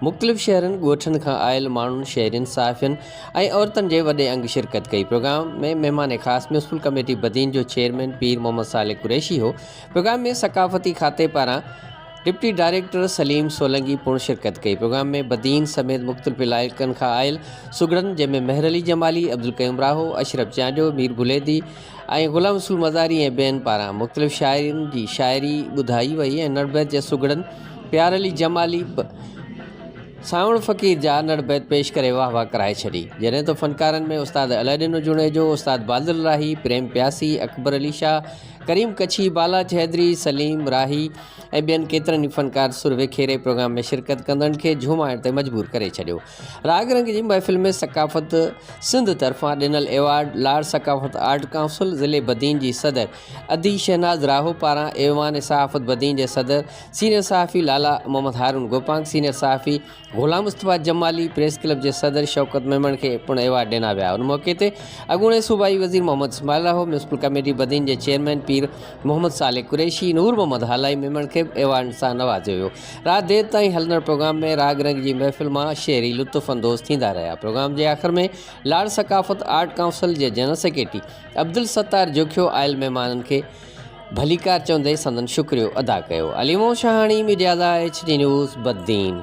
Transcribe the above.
مختلف شهرن ڳوٺن کان آيل ماڻهن شهرين صحافين ۽ عورتن جي وڏي انگ شرڪت ڪئي پروگرام ۾ مهمان خاص ميونسپل ڪميٽي بدين جو چيئرمين پير محمد صالح قريشي هو پروگرام ۾ ثقافتي کاتي پاران ڊپٽي ڊائريڪٽر سليم سولنگي پڻ شرڪت ڪئي پروگرام ۾ بدين سميت مختلف علائقن کان آيل سگهڙن جنهن ۾ مهرعلي جمالي عبدالقيوم راهو اشرف چانڊيو مير بليدي ۽ غلام رسول مزاري ۽ ٻين پاران مختلف شاعرن جي شاعري ٻڌائي وئي ۽ نڙ بيت جي سگهڙن پيار علي جمالي به سانوڻ فقير جا نڙ بيت پيش ڪري واهه واهه ڪرائي ڇڏي جڏهن ته فنڪارن ۾ استاد علي ڏنو جوڻيجو استاد بهادر راهي پريم پياسي اڪبر علي شاهه ڪريم ڪڇي بالاچ حيدري سليم راهي ۽ ٻين ڪيترن ئي فنڪار سر وکيري پروگرام ۾ شرڪت ڪندڙن کي جهومائڻ تي مجبور ڪري ڇڏيو راڳ رنگ جي محفل ۾ ثقافت سنڌ طرفان ڏنل ايوارڊ لاڙ ثقافت آرٽ ڪائونسل ضلعي بدين جي صدر ادي شهناز راهو پاران ايوان صحافت بدين جي صدر سينئر صحافي لالا محمد هارون گوپانگ سينئر صحافي غلام مصطفيٰ جمالي پريس ڪلب جي صدر شوڪت ميمڻ کي پڻ ايوارڊ ڏنا ويا ان موقعي تي اڳوڻي صوبائي وزير محمد اسماعيل راهو ميونسپل ڪميٽي بدين جي چيئرمين پير محمد صالح قريشي نور محمد هالائي ميمڻ کي به ايوارڊن سان نوازيو ويو رات دير تائين هلندڙ پروگرام ۾ راڳ رنگ جي محفل مان شعري لطف اندوز ٿيندا رهيا. پروگرام جي آخر ۾ لاڙ ثقافت آرٽ ڪائونسل جي جنرل سيڪريٽري عبدالستار جوکيو آيل مهمانن کي ڀليڪار چوندي سندن شڪريو ادا ڪيو. علي محمد شاهاڻي، ميڊيا لاء ايڇ ڊي نيوز، بدين.